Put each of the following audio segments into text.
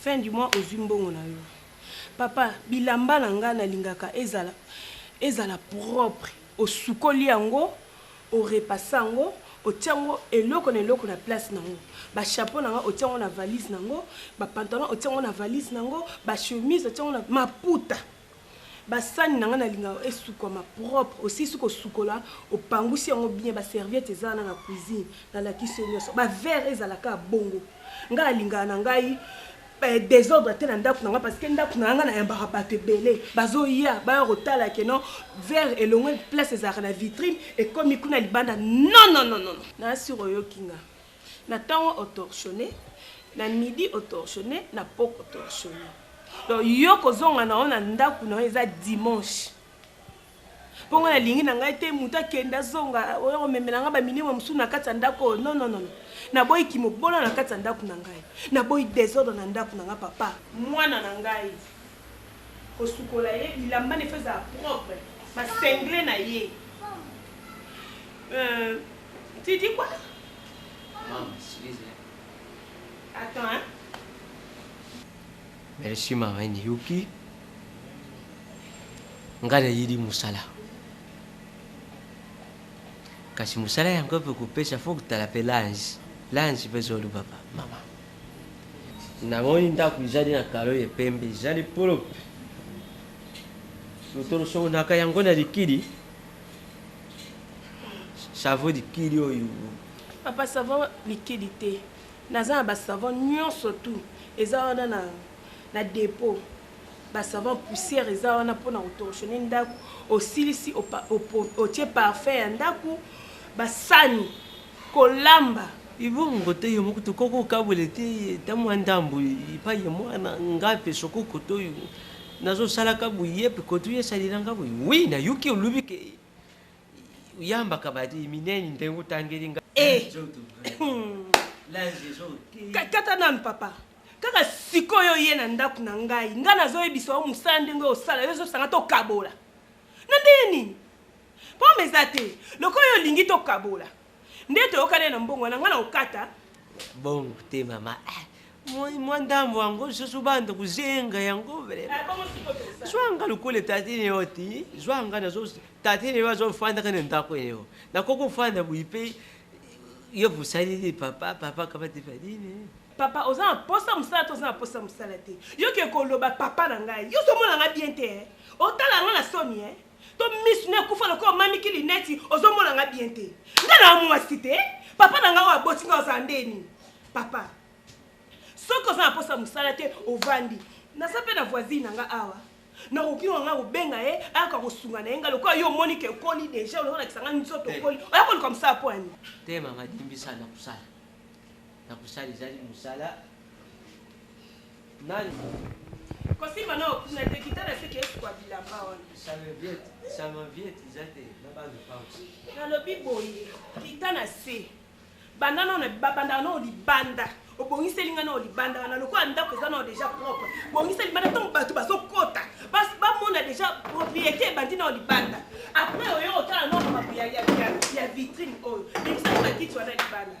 Fin du mois ozui mbongo na yo. Papa bilamba na nga na lingaka ezala ezala propre osukoli yango orepasa yango otia yango eloko na eloko na place na yango ba chapeau na nga otia yango na valise na yango ba pantalon otia yango na valise na yango ba chemise otia yango na maputa Ba sani na nga na lingaka esukwama propre, osilisi ko sukola opangusi yango bien ba serviettes eza wana na cuisine na lakisi yo nionso. Ba verres ezala kaka bongo. Nga na lingaka na ngai desordre te na ndaku na nga parce que ndaku na nga na yambaka batu ebele bazo ya baya ko tala que non verre elongwe place ezalaka na vitrine ekomi kuna libanda non non non non. Na sur oyoki nga. Na tongo o torchonner, na midi o torchonner, na pokua o torchonner. Donc yo ko zonga na yo na ndaku na yo eza dimanche. Po nga na lingi na ngai te mutu a kende a zonga oya ko memela nga ba minema mususu na kati ya ndaku oyo non non non. Na boyi ki mobola na kati ya ndaku na ngai. Na boyi desordre na ndaku na nga papa. Muana na ngai ko sukola ye bilamba na ye faut ezala propre, ba singlet na ye euh. Tu dis quoi? Mama, excuse hein. Attends hein. Merci ma reine Yuki. Nga nayeli mosala. Kasi mosala yango mpe kopesa fo kotala mpe lange. Lange mpe zolu papa, mama. Namoni ndako ezali na kalo ya pembe, ezali propre. Totolosokonaka yango na likili. Chavo likili oyo. Papa savon likili te. Naza na ba savon nyonso tout eza wana na na depot. Ba savon poussière eza wana pona ko torchonner ndaku. Osilisi otie parfum ya ndaku ba sani kolamba. Ibongo te yo moko tokoki kokabwela te ta mwa ndambo epai ya mwana ngape soko kotoyo Nazo salaka boye yep koto ye salila nga boye oui na yoki olobi ke yambaka ba minene ndenge otangeli nga eh kata nanu papa kaka sikoyo ye na ndako na ngai ngai nazoyebisa yo mosala ndenge osala yo ezosanga tokabola na ndenge nini pome eza te lokola yo olingi tokabola Nde toyokani na mbongo wana ngai na kokata. Bongo te mama. Ah, mwa ndambo yango lisusu banda kozenga yango vremazwanga lokola tatine yo ti zwanga tatine yo azofandaka na ndako eyo nakoki kofanda boyi mpe yo bosaleli papa papa kabatifadine papa oza na posa mosala to oza na posa mosala te yoke koloba papa na ngai yo ozomona ngai bien te eh? otala ngai na soni e eh? to misu na ekufa lokola omamiki lineti ozomona nga bien te nga na mwasi te papa na nga oyo aboti nga ozala ndeni papa soki oza na mposa mosala te ovandi naza mpe na voisine na nga awa nakoki ngo nga kobenga ye ayaka kosunga na ye nga lokola yo omoni ke ekoli deja ololakisa nga nzoto okoli oya koluka mosala mpo ani te mama dimbisa na kosala Na kosala ezali mosala nani? Kosimba na okuna te kita na seke esukwa bilamba wana. Salviette, salviette eza te na ba lopango. Nalobi boye kita na se banda nao na babandaka nao libanda obongiseli ngai nao libanda wana lokola ndako eza nao deja propre bongisa libanda ntango bato bazokota bamona deja propriété ebandi nao libanda après oyo otala nao makambo ya vitrine oyo ebisa bakiti wana libanda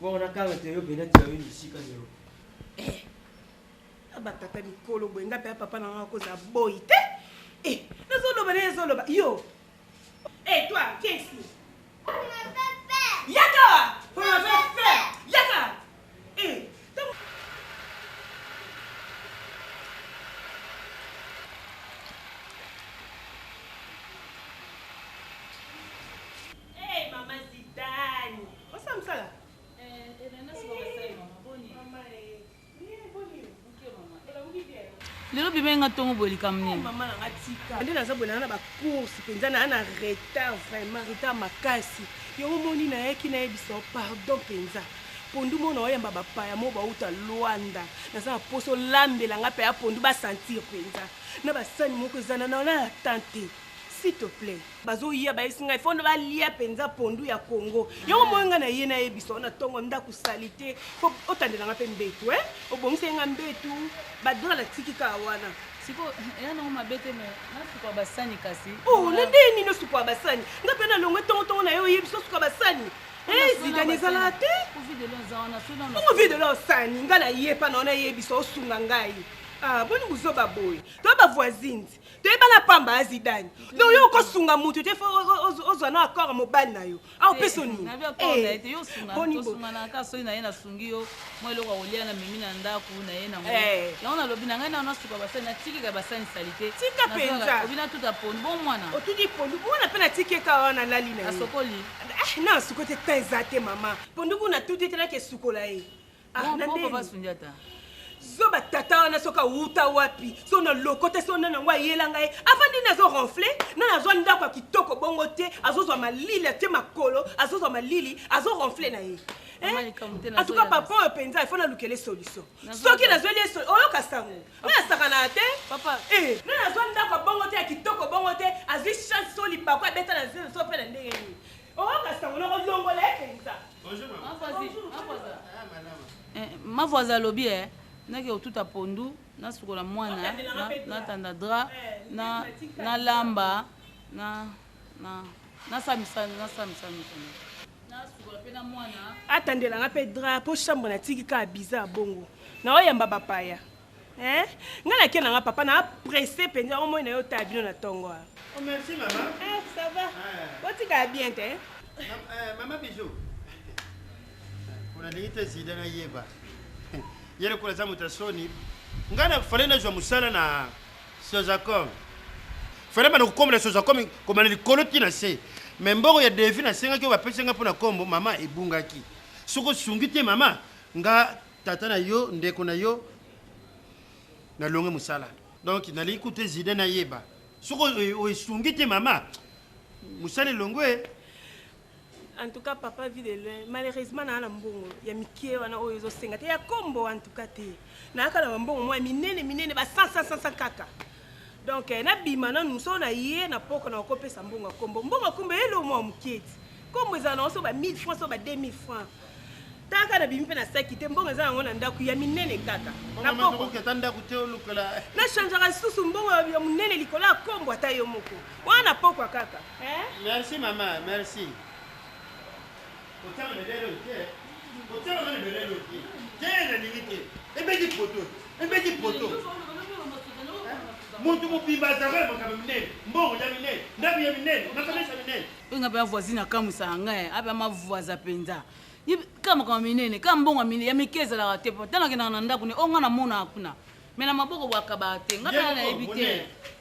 Bon, na kanga te yo bena ti yo musika zero. Eh. Aba tata mikolo boye ngape ya papa na nga ko za boy te. Eh, na zo loba na zo loba. Yo. Eh toi, qu'est-ce que Yaka! Pour la faire! Yaka! Eh, Hey, Mama Zidane! Osala msala? Eh, Elena eh, soba basali mama boni. Mama eh. Bien boni. Muke mama. Elamuki eh, bien. lelo bimai nga ntongo boye likambo nini mama na nga tika nde naza boye nanga na bacourse mpenza naa na retard vraiment retard makasi yango moni nayaki nayebisa yo pardon mpenza pondu mona oyamba bapaya mo bauta lwanda naza na mposo olambela nga mpe ya pondu basentir mpenza na basani moko ezana na na ya tante S'il te plait. Bazoya bayesi ngai fondo balia penza pondu ya Congo. Yango moi ngai na ye na ye biso na tongo ndaku salite. Po otandela ngai pe mbetu eh. Obongisa ngai mbetu. Ba dola na tiki ka wana. Siko ya na ngoma bete me na suka basani kasi. Oh na nde ni no suka basani. Nga pe na longwe tongo tongo na yo ye biso suka basani. Eh zidane ezala te. Ko vide lo za wana sona. Ko vide lo sani nga na ye pa na ona ye biso osunga ngai. Ah boni buzoba boye. To ba voisines. toyebana pamba ya zidane donc yo okosunga moto te fo ozwa na accord mobali na yo au mpe soniboni mpe natiki eka wana lali na eh, na suko te ta eza te mama pondu kuna tuti te nake esukola ye Ah, na nini? zoba tata wana soki awuta wapi so na loko te so nani yango ayela ngai avandi nini azo ronfle nani azwa ndako ya kitoko bongo te azozwa malili atie makolo azozwa malili azo ronfle na ye antuka papa oyo mpenza ifo nalukele solution soki nazweli ye oyoka sango ngai asakanaka te eh, nani azwa ndako ya bongo te ya kitoko bongo te azwi chance so lipako abeta na zelo so mpe na ndenge nini Oh kasi tango noko longola ye penza. Bonjour maman. Eh, mavoise alobi e eh, nake kotuta pondu nasukola mwana natanda dra nalamba atandelanga mpe dra mpo chambre natiki kaka biza bongo naoyamba bapaya Eh, nga na kia na nga papa na presse penza omoi na yo ta bino na tongo. Oh merci maman. Eh, ça va. Eh. Otika bien te. Eh, maman bijou. Unalingi te zida na yeba. Yele kula za mutasoni. Nga na fale na jwa musala na Sozacom. Fale ba na kukomela Sozacom komana likolo ti na se. Me mbongo ya devi na senga ki ba pesa nga pona kombo mama ebungaki. Soko sungi te mama nga tata na yo ndeko na yo na longue musala donc nalingi kutu ezide nayeba soki oesungi te mama musala elongwe en tout cas papa vie de loin malheureusement naa na mbongo ya mikie wana oyo ezosenga te ya kombo en tout cas te nayaka na bambongo mwa minene minene ba 100 100 kaka donc eh, nabima nanu so na ye na poko na kopesa mbongo ya kombo mbongo ya kombo eyeli omwa moketi kombo ezala na oso ba 1000 francs so ba 2000 francs taka na bimi mpe na saki te mbongo eza yango na ndako ya minene kaka na changeaka lisusu mbongo ya monene likolo ya kombo ata yo moko wana na pokwa kaka eh? merci mama merci Kotiama na ebele oyo te. Kotiama na ebele oyo te. Te nalingi te. Ebeti poto. Ebeti poto. Moto mobimba azalaka na makambo minene, mbongo ya minene, ndako ya minene, makanisa minene. Oyo ngai mpe ya voisine akamusaka ngai, ape ya mavoisa mpenza. Kaka makambo minene, kaka mbongo ya mike ezalaka te. Ntango akendaka na ndako ne, oyo ngai namonaka kuna. Me na maboko bwakabaka te. Ngai mpe nayebi te.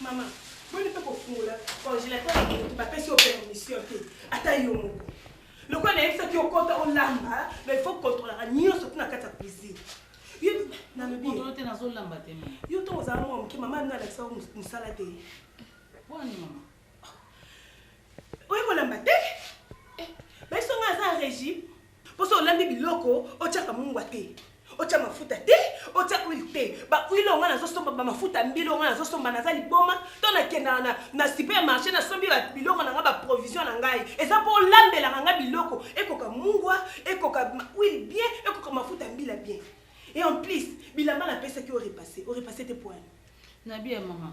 Maman, boni pe kofungola congélateur moto bapesi yo permission te ata yo moko lokola nayebisaki yo kota olamba na il faut controlaka nyonso ti na kati ya cuisine nalobi te nazolamba te yo ntongo ozala mwa moke mama nde alakisa yo mosala te wani mama oye kolamba te eh, baiso ngai aza régime Mpo soki olambi biloko, otyaka mungwa te, otya mafuta te, otya huile te. Ba huile oyo ngai nazosomba, ba mafuta ya mbila oyo ngai nazosomba, naza liboma to nakendaka na, na supermarché nasombi ba biloko na ngai ba provision na ngai, eza mpo olambelaka ngai biloko ekoka mungwa, ekoka ma- huile bien, ekoka mafuta ya mbila bien. Et en plus, bilamba napesaki yo repasse, orepasse te mpo wani? nabi ya mama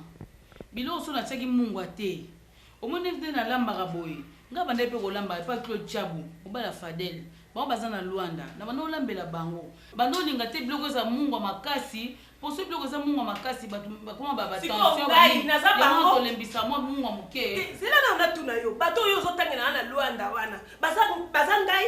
biloko so natiaki mungwa te Omoni ndenge na lambaka boye nga na bandaki pe kolamba epa Claude tshabu mobali ya fadel bango baza na luanda na bandaki kolambela bango banda olinga te biloko eza mungwa makasi po soki biloko eza mungwa makasi batu bakoma ba tension ba nini yango wana tolembisa mua mungwa muke te zela nanu natuna yo bato oyo ozo tangela nga na luanda wana baza baza ngai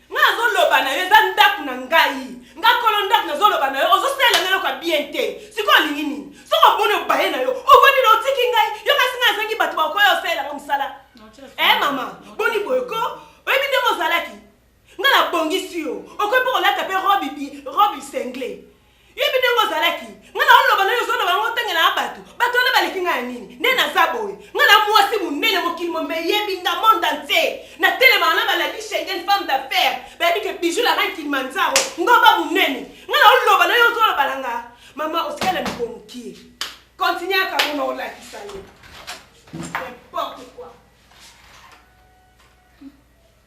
Nga nazo loba na yo eza ndaku na ngai. Nga kolo ndaku nazo loba na yo ozo salela nga eloko ya bien te. Sikoyo olingi nini? Soki omoni obaye na yo ovandi na otiki ngai yo kasi nga nazangi batu ba koya osalela nga musala. Eh mama boni boye ko oyebi ndenge ozalaki nga na bongisi yo okoki pe kolata pe robe bi robe cingle. Yebi ndenge ozalaki nga na oloba nayo ozoloba yango otangela na bato bato wana baleki nga ya nini nde naza boye nga na mwasi monene mokili mombe yebi nga monde entier na telema wana baladi schengen femme d'affaires bayebi ke bijou la reine kilimanjaro ngomba monene nga na oloba nayo ozoloba na nga mama osikala miko mokie continue aka mona olakisa yo n'importe quoi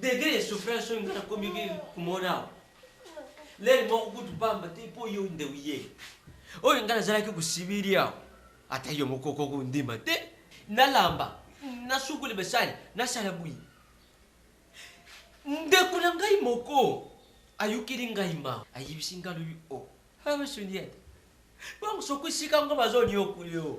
degre ya souffrance oyo ngai nakomiki komona awa lere moko kutu pamba te mpo yo nde oye oyo ngai nazalaki kosibiri awa ata yo moko kokondima te nalamba nasukoli basali nasala bwi ndeko na ngai moko ayokeli ngai ma ayebisi ngai lobi o oh, awa soniate bango soko esika ngo bazoniokuli o oh.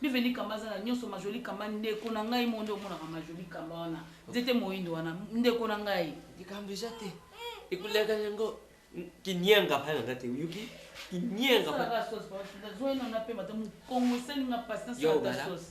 Bienvenue Kamba aza na nyonso ma jolie Kamba ndeko na ngai moko nde omonaka ma jolie Kamba wana nzete moyindo wana ndeko na ngai likambo eza te ekoleka yango kinianga bana nga te oyoki kinianga nazwai nanga mpe mata mokongo esali nga pasi nasala ta sauce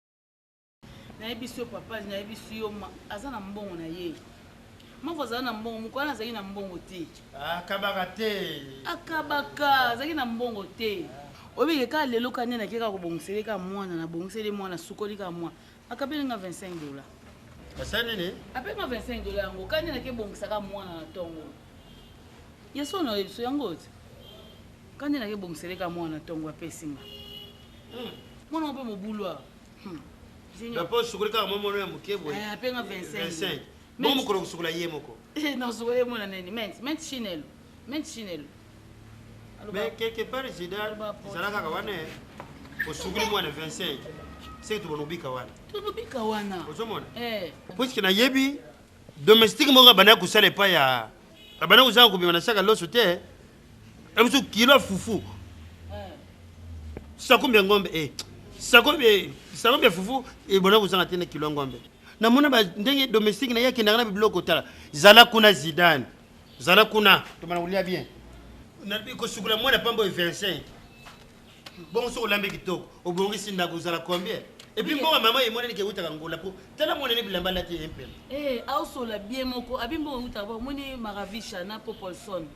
nayebisi yo papa nayebisi yo aza na mbongo na ye moko azali na mbongo moko wana azali na mbongo te akabaka te akabaka azali na mbongo te oyebike kaka lelo ka nde nake kaka kobongiseli kaka mwana nabongiseli mwana sukoli kaka mwana akabeli nga 25 dola asali nini apeli nga 25 dola yango ka nde nake bongisaka mwana na ntongo yesu onayebiso yango te Kani na ke bongisele ka mwana tongo apesi nga. Hmm. Mwana ngo pe mobulu awa. Hmm. Na po sukuli kaka mwa mwana ya moke boye. Eh, ape nga 25. Bongo mokolo kosukola ye moko. Eh, na sukola ye mwana nini? Ment, ment chinelo. Ment chinelo. Mais quelque part Zidane ezala kaka wana eh. osukuli mwana 25. Seki tobona obika wana. Tobika wana. Ozomona? Eh. Puisque nayebi domestique moko abandaki kosala epai ya abandaki kozanga kobima na saka loso te ebiso kilo fufu sakombi ya ngombe e sakombi sakombi ya fufu ebandaki kozanga te na kilo ya ngombe namona ndenge domestique na ye akendaka na bibiloko tala zala kuna zidane zala kuna tomana kolia bien kosukula mwana pamba oyo 25 bongo soki olambi kitoko obongisi ndako ozala combien epuis mbongo mama emonani ke eutaka ngola po tala mwana ne bilamba alati ye mpema eh, aosola bie moko abi mbongo eutaka bo omoni maravisha na popolson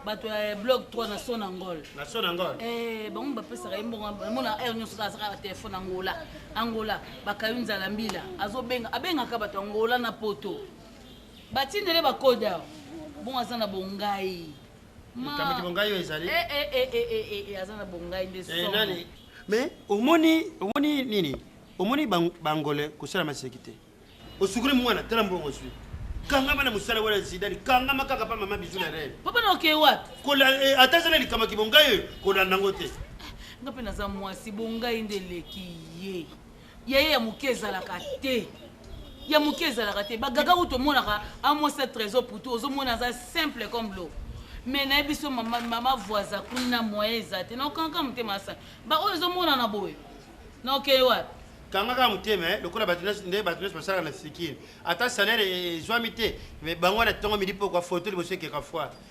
bato ya blog 3 na son angol na son angol eh bango bapesaka ye mbongo mona heure nyonso kaka azaka telefone angola angola bakayo nzala mbila azobenga abengaka bato angola na poto batindele bakoda bongo aza na bongai likambo ki bongai oyo ezali eh, eh, eh, eh aza na bongai nde so nani mais omoni omoni nini omoni bangole kosala maseki te osukuli mwana tala mbongo ozwi kangama na mosala wana zidani kangama kaka pa mama bizu na rene papa na okei wapi eh, ata eza na likambo kibongai oyo kolanda yango te nga mpe naza mwasi bongai nde eleki ye ya ye ya moke ezalaka te ya moke ezalaka te bagaga oyo tomonaka amwasa trésor putu ozomona aza simple comme lo me naye biso mama, mama voisa kuna moyen eza te naokanka motema asa baoyo ezomonana boye naokei wapi kangaka motema eh, lokola bato nde bato nyonso basalaka na sikini ata salaire ezwami te me bango wana ntongo midi mpo kwa foto liboso ekeka foire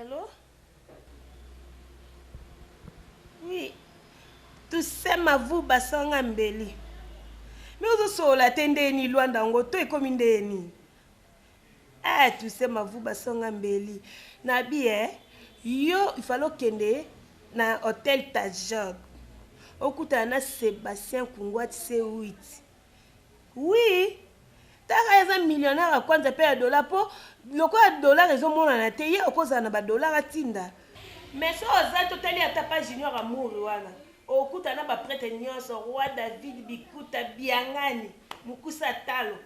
Allô Oui Toussaint Mavuba sanga mbeli Mais ozosolola te ndeni Luanda yango to ekomi ndeni Eh Toussaint Mavuba sanga mbeli Nabi eh yo il fallait okende na hôtel Tajog okutana na Sébastien Kungwati C8 Oui, taka eza millionnaire ya kwanza mpe ya dollar mpo lokola dollar ezomonana te ye okozala na badollar atinda mais so oza totali ata pa junior amour wana okuta na baprete nyonso roi david bikuta biangani mokusa talo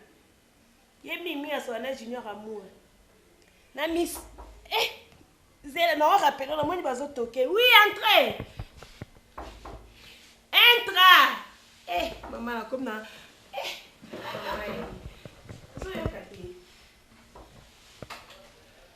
ye mimi asola na junior amour na miso eh zela na wa rappelo na moni bazo toke oui entre entra eh mama na comme na eh mama ye ozoyoka te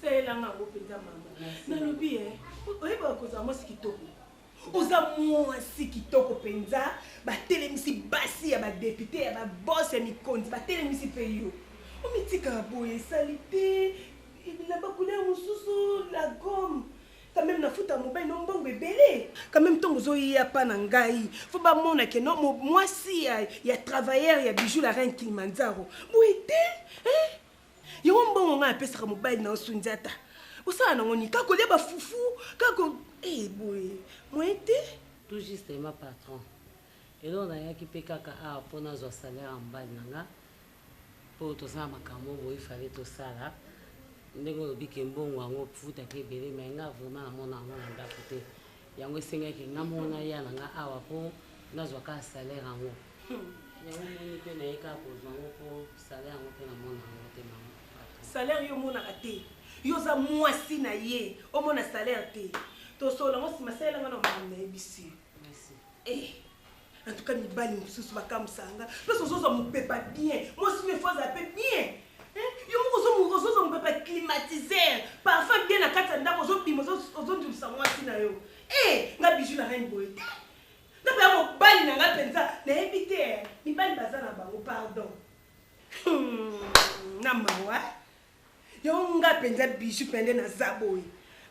Salela nga ngo penza mama. Nalobi eh oyeba kozala mwasi kitoko. oza mwasi kitoko mpenza batelemisi basi ya badepute ya babos ya mikonzi batelemisi mpe yo omitikaka boye esali te na bakulere mosusu la gomme quand même nafuta mobali no mbongo ebele quand même ntongo ozoya mpa na ngai fo bamona ke no mwasi ya, ya travailleur ya bijou la reine kilimanzaro boye te eh? Yango mbongo ngai apesaka mobali na yo Sundiata. Osala nango nini? Kaka kolia ba fufu, kaka ko eh boye. Moyen te. Tout justement patron. Eloko nayaki mpe kaka awa mpo nazwa salaire ya mobali na nga mpo toza na makambo boye ifale tosala ndenge olobi ke mbongo yango ofutaka ebele mai nga vraiment namona yango na ndako te Yango esengaki nga moko naya na nga awa mpo nazwa kaka salaire yango. Hmm. Yango omoni mpe naye kaka kozwa yango mpo salaire yango mpe namona yango te mama. Salaire yo omonaka te? Yo oza mwasi na ye omona salaire te? Tosolola yango nsima salela nga na makambo nayebisi yo. Merci. Eh. En tout cas, mibali mosusu bakamwisaka nga mpe sozozwa mopepa bien mwasi oyo efo azala mpe bien eh, yo moko ozozwa mopepa climatiseur parfum bien na kati ya ndako ozobima ozondulisa mwasi na yo e eh, nga biju na reine boye te ndako ya mobali na nga mpenza nayebi te eh, mibali baza na bango pardon hmm, na mawa Yango nga penza bijou pende naza boye.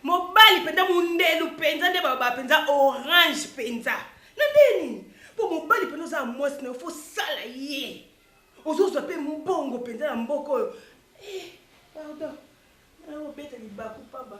Mobali penza mundelu penza nde baba penza orange penza. Na nde nini? Po mobali penza oza mwasi na yo faut sala ye. Ozozwa pe mbongo penza na mboka oyo. Eh, pardon. Na obeta libaku paba.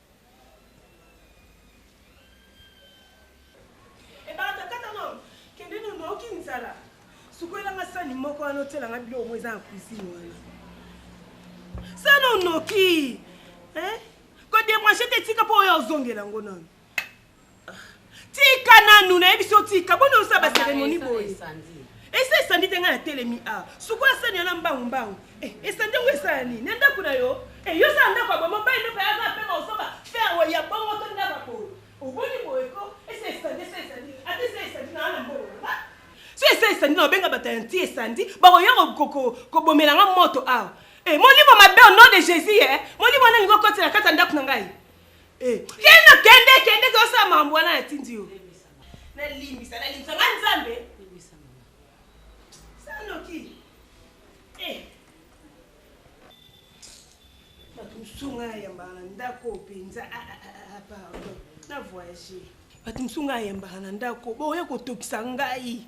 Ebanda kata no, kende no noki nzala. Sukwela nga sani moko wana otiela nga biloko moko eza na cuisine wana. Sani onoki. Hein? Ko débrancher te tika po oya ozongela ngo nanu. Tika nanu na yebi so tika boni osa ba cérémonie boye. Esa esandi te nga na telemi a. Suko asani ana mbangu mbangu. Eh, esandi ngo esa ni. Na ndaku na yo. Eh, yo sa ndaku ba mo ba ndo pa za pe ba osoba. Fer wa ya bongo to ndaku ko. Oboni boye ko. Esa esandi esa esandi. Ati esa esandi na ana mbo. So esa esandi na benga bata nti esandi. Ba ko yero ko ko ko bomela nga moto a. Eh, molimo mabe au nom de Jésus eh. Molimo na ngo kotela kata ndaku na ngai. Eh. Kende kende kende ko sa mambo wana na tindi yo. Na limbisa na limbisa nga nzambe. Limbisa mama. Sano ki. Eh. Bato mosunga ya yambaka na ndako mpenza ah, ah, ah, pardon na voyage bato mosunga ya yambaka na ndako boya kotokisa ngai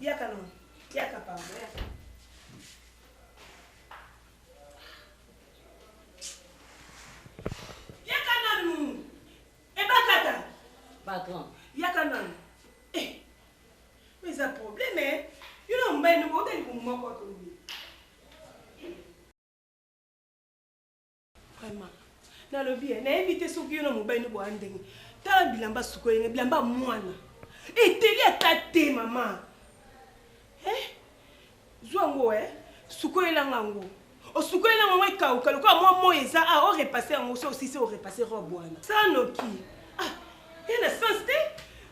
Yaka no. Yaka pamba. Yaka. Yaka nanu. Ebakata. Patron. Yaka nanu. Eh. Mais un problème, hein. Yo na mbaye no ko tali ko moko to. Vraiment. Nalobi eh, nayebi te soki yo na mobali no boya ndenge. Tala bilamba suko yenge, bilamba mwana. Eteli ata te mama. Eh? Zwa ngo eh. Suko yelanga ngo. Osuko yelanga ngo ekauka lokola mwa moyi eza ah o repasser yango so osisi o repasser robe wana. Sanoki. Ah, ena sens te.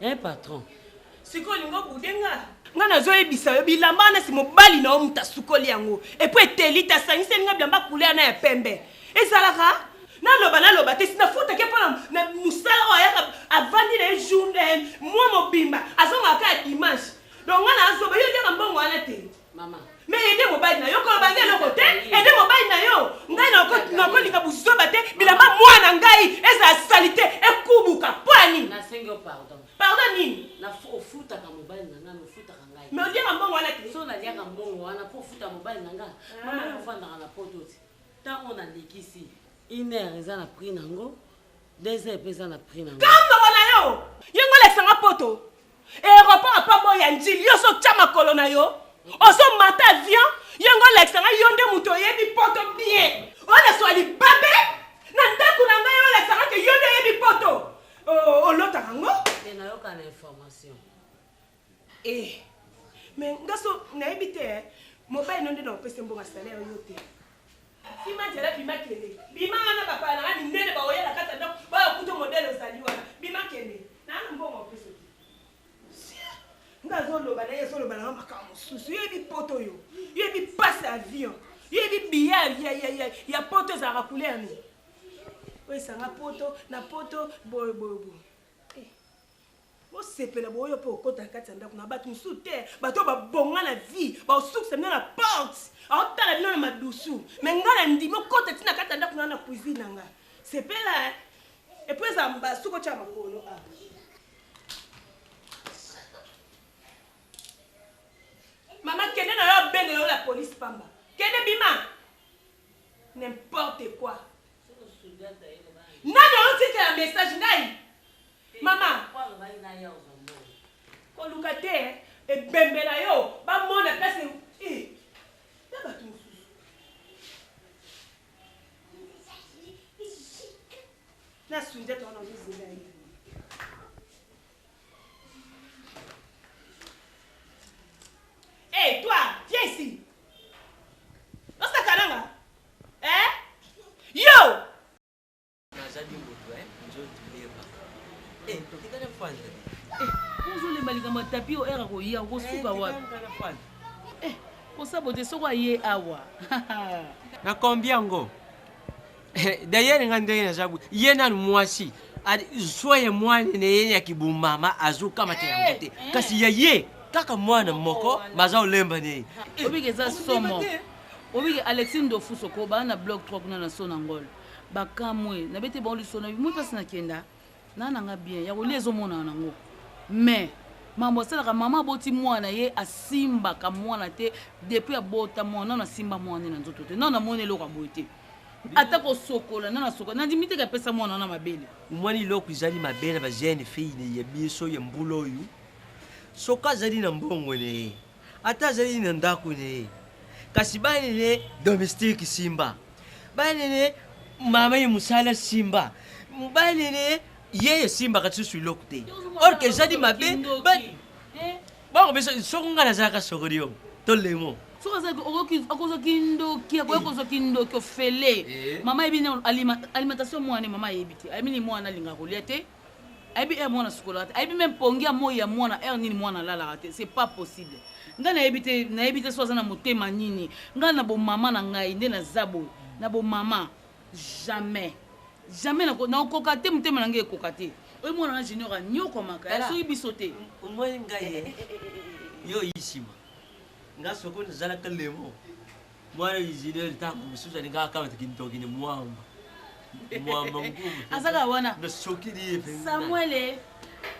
Hein patron. Siko olingi obude nga? Nga nazoyebisa yo bilamba wana si mobali na yo moto asukoli yango epo eteli te asangiseli nga bilamba couleur na ya pembe ezalaka naloba naloba te sinafutaki mpo na mosala oyo ayaka avandi na ye journe mwa mobimba azongaka ya dimanche donc nga nazoba yo oliaka mbongo wana te Mama. Me ede mobali na yo koloba ngai eloko te ede mobali na yo ngai nakolinga buzoba te bilamba mwana ngai ezala salite ekubuka mpo ya nini pardon nini ofutaka mobali na ngai ofutaka ngai me oliaka mbongo wana te so naliaka mbongo wana mpo ofuta mobali na ngai ah. mama ofandaka na poto te ntango nalekisi iner eza na prix na yango Deux heures pesa na prix na nga. Kambongo na yo. Ye ngo lekisa nga poto. Aéroport apa bo ya njili yo so tia makolo na yo. Ozo mata avion ye ngo lekisa nga yo nde mutu oyebi poto bien. Ole swa libabe na ndaku na nga yo lekisa nga ke yo nde oyebi poto. Olotaka ngo? Te na yoka na information. Eh, mais nga so nayebi te eh. Mobali no nde na opese mbongo ya salaire yo te. Sima jela bima kende. Bima wana ba pala na mindele ba oyela kata donc ba kuto modèle ozali wana. Bima kende. Na na mbongo ya opese te. Sia. Nga zo loba na ye zo loba na makambo susu. Yo bi poto yo. Yo bi passe avion. Yo bi biya ya ya ya ya poto za ka couleur ni. Oyo esanga poto na poto boye boye boye. Osepela boye mpe okota na kati ya ndako na bato mosusu te, bato oyo babonga na vie baosukisa bino na porte, aotala bino na madusu. Me ngai na ndimi okota ti na kati ya ndako na na cuisine na ngai. Sepela eh. Epuis eza mba suko tya makolo a. Ah. Mama kende na yo abenge yo la police pamba. Kende bima. N'importe quoi. Nani oyotikela message ngai? Mama koluka te ebembe na yo bamona place eh, na bato mosusu na sunjata wana ozozela ye Hey, eh, toi, viens ici. Osaka nanga. Eh? Yo! nazali moto eh, nzoto leba eh, totika na fanda eh, ozolemba likambo ya tapi o ere akoya okosuka wapi kosabote soko aye awa na kombi yango dayere nga ndenge naza ye nanu mwasi zwa ye mwana na ye ya kibumama azokamata yango te kasi ya ye kaka mwana moko baza olemba na ye obike eza somo obike alexi ndofuso ko baa na blog 3 kuna na so na ngolo bakamwe na bete bango liso na bimoi mpasi nakenda na nanga bien ya kolia ezomonana nango mais mambo asalaka mama aboti mwana ye asimbaka mwana te depuis abota mwana nano asimba mwana ye na nzoto te nano amoni eloko ya boye te ata kosokola nano asokola nandimi teke apesa mwana wana mabele mwana eloko ezali mabe na bajeune fille ya biso ya mbula oyo soki azali na mbongo na ye Ata azali na ndako na ye, kasi bana na ye domestique simba, bana na ye mama ye mosala simba, bana na ye ye esimbaka lisusu eloko te, or que ezali mabe bakopesa soko ngai nazalaka sokodium to lemo soki akozwa kindoki akoya eh. kozwa kindoki ofele eh. mama ayebi alimentation mwana mama ayebi te ayebini mwana alingaka kolia te ayebi heure mwana sukolaka te ayebi meme pongi ya moi ya mwana heure nini mwana alalaka te c'est pas possible ngai nayebi te nayebi te so aza na motema nini ngai na bomama na ngai nde naza boye na bomama jamais jamais nakokoka te motema na ngai ekoka te oyo mwana na junior anyokwamaka ya soki biso te omoi ngai yo yisima nga soko nazalaka lemo Mwana Isidore ntango mosusu alingaka akamata kindoki na mwamba mwamba mokulu azaka wana nasokili ye mpenza samuele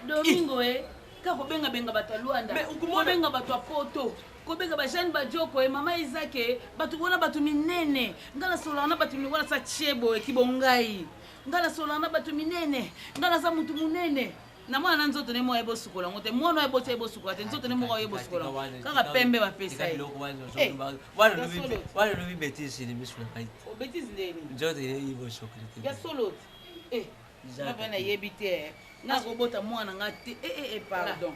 domingo e ka kobengabenga bato ya lwanda kobenga bato ya poto kobeka bajane bajoko e mama izake bato wana bato minene ngai nasololaka na bato minene wana sa chebo ekibongai ngai nasololaka na bato minene ngai naza moto monene na mwana na nzoto ne moko aye bosukola yango te mwana oyo eboti aye bosukola te nzoto ne moko aye bosukola kaka pembe bapesa ye wana lobi betise ne misu na ngai te obetise ndeni nzoto ne ye bosokoli te ya solo te eh ngai nayebi te eh. nakobota mwana nga te ee eh, eh, eh, pardon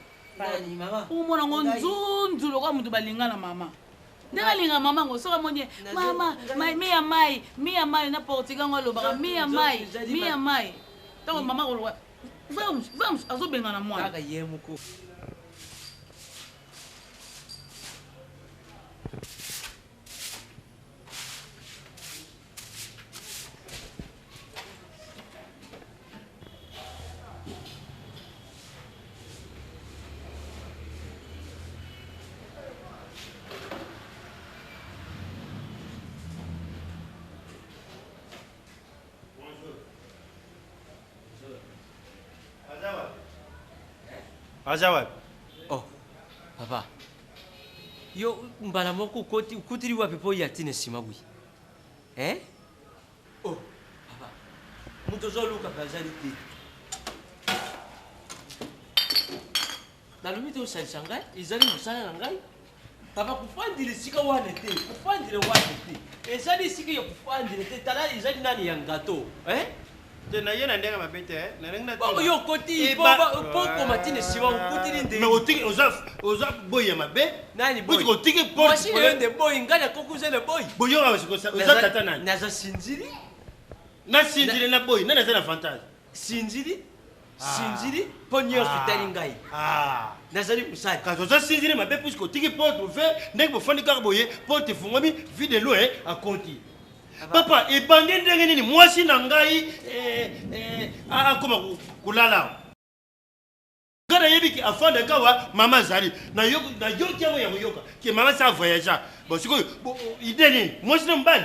omona ngo nzunzu lokola moto balinga na mama ndenge alinga mama ngo soki amoni ye mama mi ya mai mi ya mai na portugal ngo alobaka mi ya mai mi ya mai ntango mama koloba Vamos, vamos, azobengana mwana. Kaka ye moko. aza wapi oh papa yo mbala moko okoti okutili wapi mpo oya ntina nsima boye eh? oh papa moto ozoluka mpe azali te nalobi te osalisa ngai ezali mosala na ngai Papa kofandela esika wana te, kofandela wana te. Ezali esika ya kofandela te, tala ezali nani ya ngato. Eh? Te na ye na ndenge mabe te, eh. na ndenge na Bongo yo okoti Eh, po ba- ba- po okoma tina nsima okutili nde. Mais otiki oza oza boyi ya mabe. Nani boy? Otiki otiki porte. Mwasi na yo nde boy, ngai nakoki oza na boy. Boyoka oza oza Naza- tata nani? Naza sinzili, Na sindile na boyi, nani aza na avantage? sinzili. sinzili mpo nyonso ah. etali ngai ah. nazali mosali kasi oza sinzili mabe puiske otiki porte ouvert ndenge bofandi kaka boye porte efungwami vie de loin akonti ah, papa ebandi ndenge nini mwasi na ngai eh, eh, akoma kolala nga nayebi ke afanda kawa mama azali nayoki yango ya koyoka ke mama sa voyagea bon sikoyo ide nini mwasi na mobali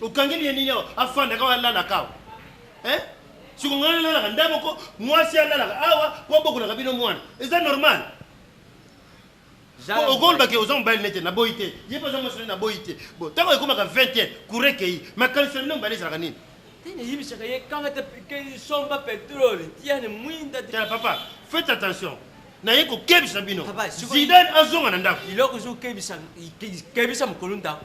okangeli ye nini awa afandaka awa alalaka awa eh? siko ngai alalaka nda moko mwasi alalaka awa po abokolaka bino mwana eza normal okolobaki oza mobali nete naboyi te ye mpe aza mwasi nete naboyi te bo ntango ekomaka 20 te kura ekei makanisi na bino mobali ezalaka nini eyebisaka ye kanga te somba petrole tiane mwinda tala papa faites attention naye kokebisa bino zidane azonga na ndako eloko ezokebisa mokolo ndako